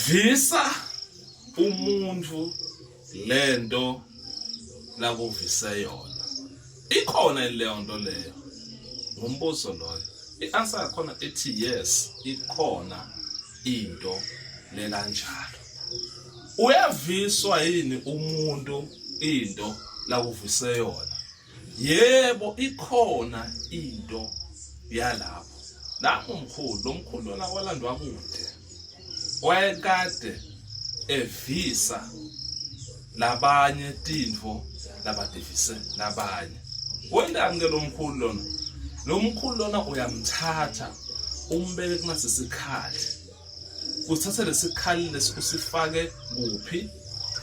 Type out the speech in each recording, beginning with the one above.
visa umuntu lento lakuvise yona ikhona leyo nto leyo ngumbuzo loyo i-answer yakhona ethi yes ikhona into lekanjalo uyaviswa yini umuntu into lakuvise yona yebo ikhona into yalapho lapho mkhulu lo mkhulu lona walandwa kude wayekade evisa labanye tintfo labadivise labanye wendani ke lo mkhulu lona lo mkhulu lona uyamthatha umbeke kunasesikhali Usithathe lesikhali lesi usifake kuphi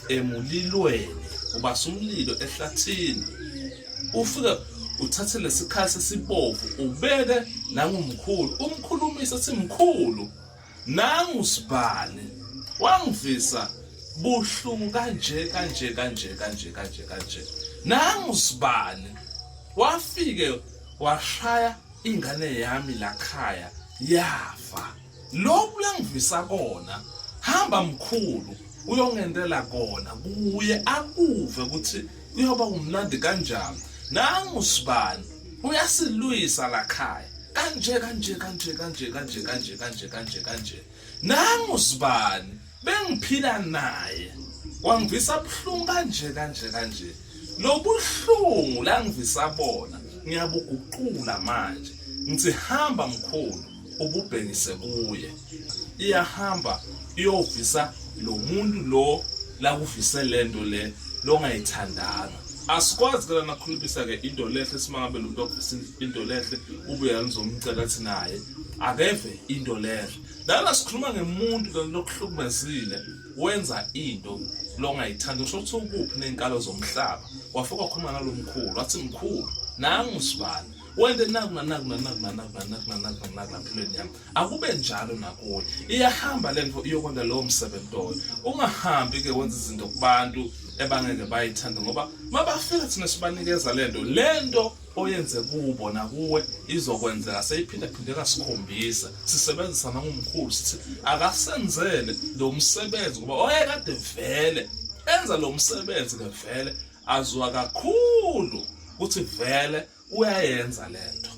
emulilweni ubasa umlilo ehlathini ufike uthathe lesikhali sesibovu ubeke nangumkhulu umkhulumisa simkhulu nangu sibhali wangivisa buhlungu kanje kanje kanje kanje kanje kanje nangu sibali wafike washaya ingane yami lakhaya yafa lokhu langivisa kona hamba mkhulu uyongentela kona kuye akuve ukuthi uyoba umnandi kanjani nangu sibani uyasilwisa lakhaya kanje kanje kanje kanje kanje kanje kanje kanje kanje nangu sibani bengiphila naye wangivisa buhlungu kanje kanje kanje lobuhlungu la ngivisa bona ngiyabuguqula manje ngithi hamba mkhulu ububhekise kuye iyahamba iyovisa lo muntu lo lakuvise lento le longayithandanga asikwazi ke lana khulumisa ke into lehle simangabe lo muntu okuvisa into lehle ubuye ngizomcela thina naye akeve into lehle Lana sikhuluma ngemuntu lokuhlukumezile wenza into longayithandi usho ukuthi ukuphi nenkalo zomhlaba wafika wakhuluma nalomkhulu wathi mkhulu nangu sibani wende naku nanaku nanaku nanaku nanaku nanaku nanaku nampilweni yami akube njalo nakuwe iyahamba le nto iyokwenza lowo msebenzi loyo ungahambi ke wenza izinto kubantu ebangeke bayithande ngoba mabafika thina sibanikeza le nto le nto oyenze kubo nakuwe izokwenzeka seyiphindaphindeka sikhombisa sisebenzisa nangomkhulu sithi akasenzele lo msebenzi ngoba oyekade vele enza lo msebenzi ke vele azwa kakhulu ukuthi vele uyayenza lento